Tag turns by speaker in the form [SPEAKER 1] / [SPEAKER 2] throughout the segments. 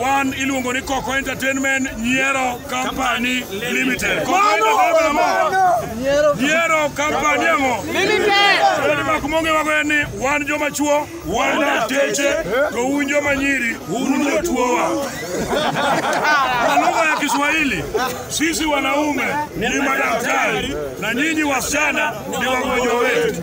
[SPEAKER 1] Wan iluongo ni Koko Entertainment Nyiero Company Limited. Koko Entertainment mo. Nyiero Company mo. Limited. Kodi mak monge wago en ni wan joma chuo, wan dateche, to un joma nyiri, un jotuowa. Kwa lugha ya Kiswahili, sisi wanaume ni madaktari na nyinyi wasichana ni wagonjwa wetu.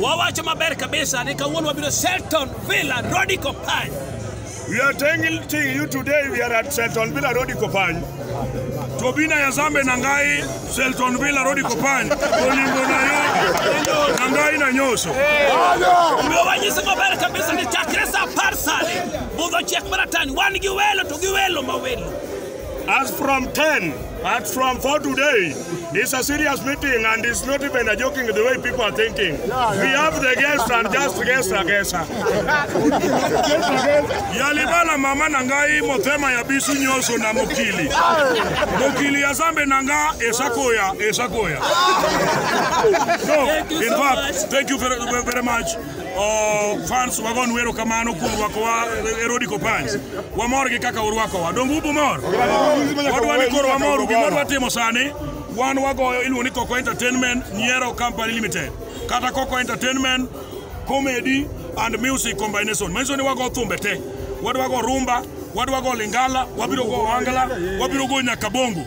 [SPEAKER 1] Wawacho
[SPEAKER 2] maber kabisa ni kawuono wabiro Selton Villa Rodi Kopany. We are
[SPEAKER 1] telling to you today we are at Selton Villa Road Kopany. Tobina ya Zambe na ngai Selton Villa Road Kopany. Olingo na yo. Na ngai na nyoso. Omiyo
[SPEAKER 2] wanyisi maber kabisa ni chakre sa apar sani budho chiek maratani wan gi welo to gi welo ma welo. As from
[SPEAKER 1] 10, as from 4 today, it's a serious meeting and it's not even a joking the way people are thinking. We have the guest and just guest a guest. Yalibala mama nangai motema ya bisu nyoso na mokili. Mokili ya zambe nanga esakoya, esakoya. So, in fact, thank you very, very much. Oh, fans wagon wero kamano kuom rwakowa Erodi Kopany. Wamor gi kaka urwakowa. Donge ubu mor? Wadwa ni koro wamoru gima dwa timo sani. Wan wagoyo iluongo ni Coco Entertainment Nyiero Company Limited. Kata Coco Entertainment Comedy and Music Combination. Manyiso ni wago thumbe te. Wadwa go rumba, wadwa go lingala, wabiro go wangala, wabiro go nyaka bongo.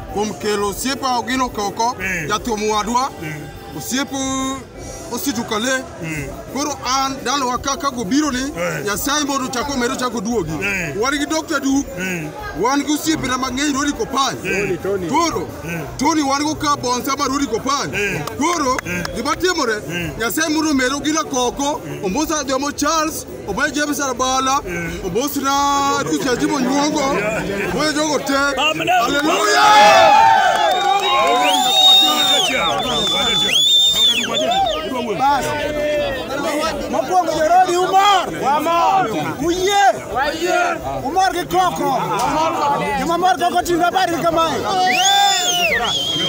[SPEAKER 3] kuom kelo osiepe Ogino Koko, Eh. jathum wadwa, Eh. osiep Ositu Kale. Eh. Koro an dalowa ka ka gobiro ni Eh. Nyasaye mondo ochak omedo chako duogi. Eh. Wan gi Dr. Duke, Eh. wan gi osiepena mang'eny Rodi Kopany. Eh. Tony. Koro Eh. Tony wan go ka bonsa ma Rodi Kopany. Eh. Koro Eh. gima timore Eh. Nyasaye mondo omedo Ogino Koko, Ombosa Jomo Charles oboye jebisara bala obosira tusia jibo nyuongo oboye jogo te aleluya
[SPEAKER 4] Mokwongo jorodi umor. Wamor. Uyie. Wayie. Umor gi koko. Joma mor koko ting'o habari kamae.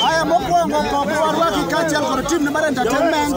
[SPEAKER 4] Haya mokwongo koko warwaki kaachiel kod tim ne mar entertainment.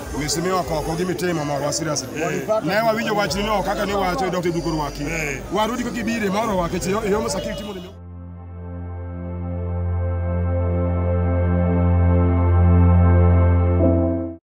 [SPEAKER 5] misimiwa koko gi mitimo morwa serious ne wawinjo wachni no kaka ne wacho dok e duko rwaki warudi kaka ibire moro wake chi yomo sakiri timo ni